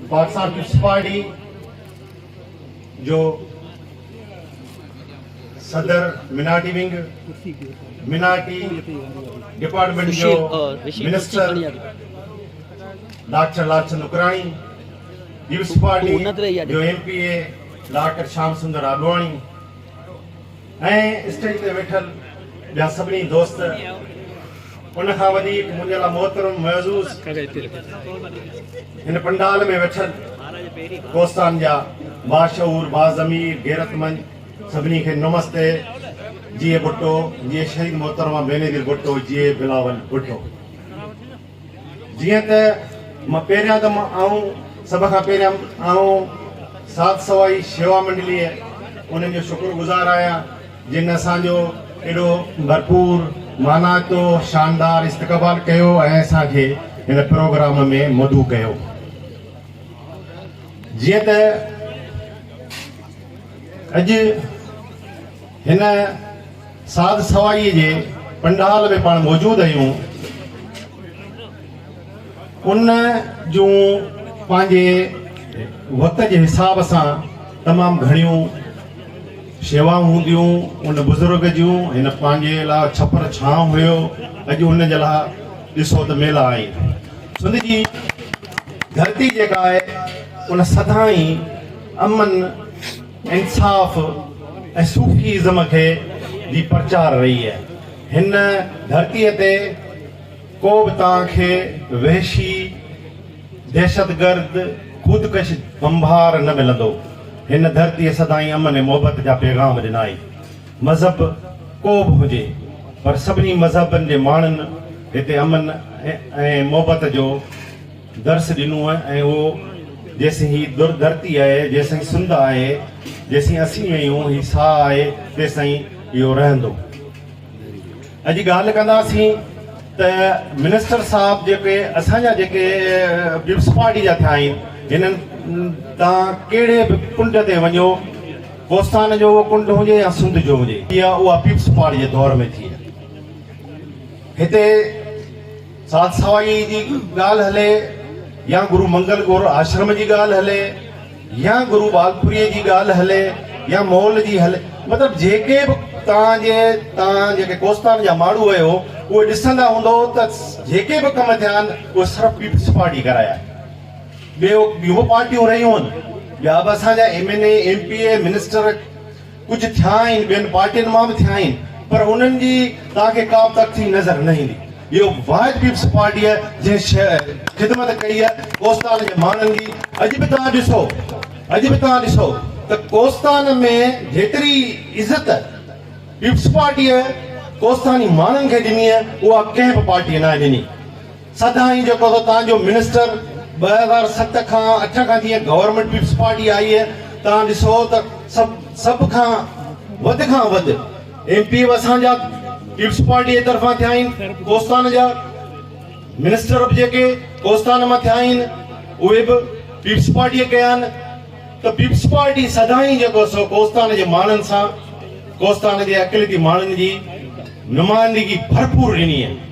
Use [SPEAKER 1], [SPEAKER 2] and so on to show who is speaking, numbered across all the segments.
[SPEAKER 1] Pakistan peoples party جو صدر minority wing minority department جو minister doctor Lal Chand Nakrani peoples party جو M P A doctor Sham Sundar Advani ۽ stage تي ويٺل ٻيا سڀني دوست ان کان وڌيڪ منهنجي لاء محترم معزوز هن پنڊال ۾ ويٺل ڪوستان جا باشعور باضمير غيرتمند سڀني کي نمستي جيئي ڀٽو جيئي شهيد محترمه بينظير ڀٽو جيئي بلاول ڀٽو جيئن ته مان پهريان ته مان آئون سڀ کان پهريان آئون سات سوائي شيوا منڊليء انهن جو شڪر گذار آهيان جن اسان جو ايڏو ڀرپور مانائتو شاندار استقبال ڪيو ۽ اسان کي هن پروگرام ۾ مدعو ڪيو جيئن ته اڄ هن ساز سوائيء جي پنڊال ۾ پاڻ موجود هيون، ان جون پنهنجي وقت جي حساب سان تمام گهڻيون شيوائون هونديون، ان بزرگ جون هن پنهنجي لاء ڇپر ڇانء هيو، اڄ ان جي لاء ڏسو ته ميلا آهن، سنڌ جي ڌرتي جيڪا آهي ان سدائين امن. انصاف ۽ صوفي ازم کي جي پرچار رهي آهي هن ڌرتي تي ڪو به توهان کي وحشي دهشت گرد خودڪش بمبار نه ملندو هن ڌرتي سدائين امن ۽ محبت جا پيغام ڏنا آهي مذهب ڪو به هجي پر سڀني مذهبن جي ماڻهن هتي امن ۽ محبت جو درس ڏنو ۽ اهو جيسين هي در ڌرتي آهي، جيسين سنڌ آهي، جيسين اسين آهيون، هي ساهه آهي، تيسين اهو رهندو. اڄ ڳالهه ڪنداسين ته منسٽر صاحب جيڪي اسان جا جيڪي پيپلز پارٽي جا ٿيا آهن، هنن تان ڪهڙي به ڪنڊ تي وڃو، ڪوستان جو اهو ڪنڊ هجي يا سنڌ جو هجي، اها پيپلز پارٽي جي دور ۾ ٿي آهي. هتي سات سوائيء جي ڳالهه هلي يا گرو منگل گور آشرم جي ڳالهه هلي يا گرو ٻالپوريء جي ڳالهه هلي يا مئل جي هلي مطلب جيڪي به توهان جي توهان جيڪي ڪوستان جا ماڻهو آهيو اهي ڏسندا هوندؤ ته جيڪي به ڪم ٿيا آهن اهي صرف پيپلز پارٽيء ڪرايا آهن ٻيو ٻيون به پارٽيون رهيون آهن ٻيا به اسان جا M N A M P A minister ڪجهه ٿيا آهن ٻين پارٽين مان به ٿيا آهن پر انهن جي توهان کي ڪابه تڪٿي نظر نه ايندي اهو واحد پيپلز پارٽي آهي جنهن خدمت ڪئي آهي ڪوستان جي ماڻهن جي اڄ به توهان ڏسو اڄ به توهان ڏسو ته ڪوستان ۾ جيتري عزت پيپلز پارٽي ڪوستاني ماڻهن کي ڏني آهي اها ڪنهن به پارٽي ناهي ڏني سدائين جيڪو ته توهان جو منسٽر ٻه هزار ست کان اٺ کان جيئن گورنمينٽ پيپلز پارٽي آئي هي توهان ڏسو ته سڀ سڀ کان وڌ کان وڌ ايم پي اسان جا پيپلز پارٽي جي طرفان ٿيا آهن ڪوستان جا منسٽر به جيڪي ڪوستان مان ٿيا آهن اهي به پيپلز پارٽي ڪيا آهن ته پيپلز پارٽي سدائين جيڪو سو ڪوستان جي ماڻهن سان ڪوستان جي اقليتي ماڻهن جي نمائندگي ڀرپور ڏني آهي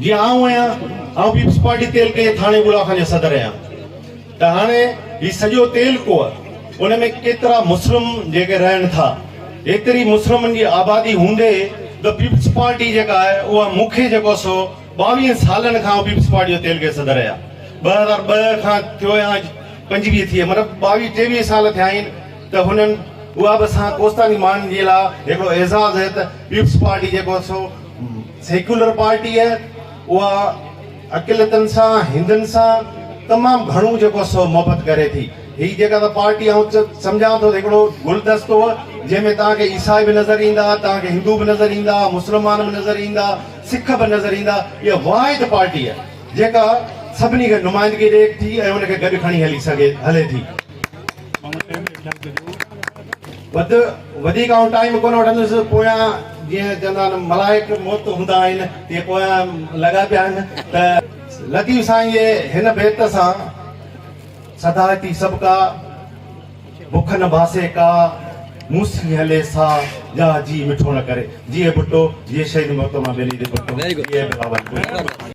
[SPEAKER 1] جيئن آئون آهيان، آئون پيپلز پارٽي تعلقي جي ٿاڻي ٻولا خان جو صدر آهيان ته هاڻي هي سڄو تعلقو ان ۾ ڪيترا مسلم جيڪي رهن ٿا، ايتري مسلمن جي آبادي هوندي به پيپلز پارٽي جيڪا آهي اها مون کي جيڪو سو ٻاويهن سالن کان آئون پيپلز پارٽي جو تعلقي صدر آهيان ٻه هزار ٻه کان ٿيو آهيان اڄ پنجويهه ٿي مطلب ٻاويهه ٽيويهه سال ٿيا آهن ته هنن اها به اسان ڪوستاني ماڻهن جي لاء هڪڙو اعزاز آهي ته پيپلز پارٽي جيڪو سو سيڪيولر پارٽيء اها اقليتن سان، هندن سان تمام گهڻو جيڪو آهي سو محبت ڪري ٿي. هي جيڪا ته پارٽي آئون سمجهان ٿو ته هڪڙو گلدستو جنهن ۾ توهان کي عيسائي به نظر ايندا، توهان کي هندو به نظر ايندا، مسلمان به نظر ايندا، سک به نظر ايندا. اها واحد پارٽي آهي جيڪا سڀني کي نمائندگي ڏئي ٿي ۽ ان کي گڏ کڻي هلي سگهي هلي ٿي. وڌ وڌيڪ آئون ٽائيم ڪونه وٺندس، پويان جيئن چوندا آهن ملائڪ موت هوندا آهن تيئن پويان لڳا پيا آهن ته لطيف سائين جي هن بيت سان سڌارتي سڀ ڪا، بک نه باسي ڪا، مون سين هلي سا، جا جي مٺو نه ڪري. جيئي ڀٽو، جيئي شهيد محترمه بينظير ڀٽو، جيئي بلاول ڀٽو.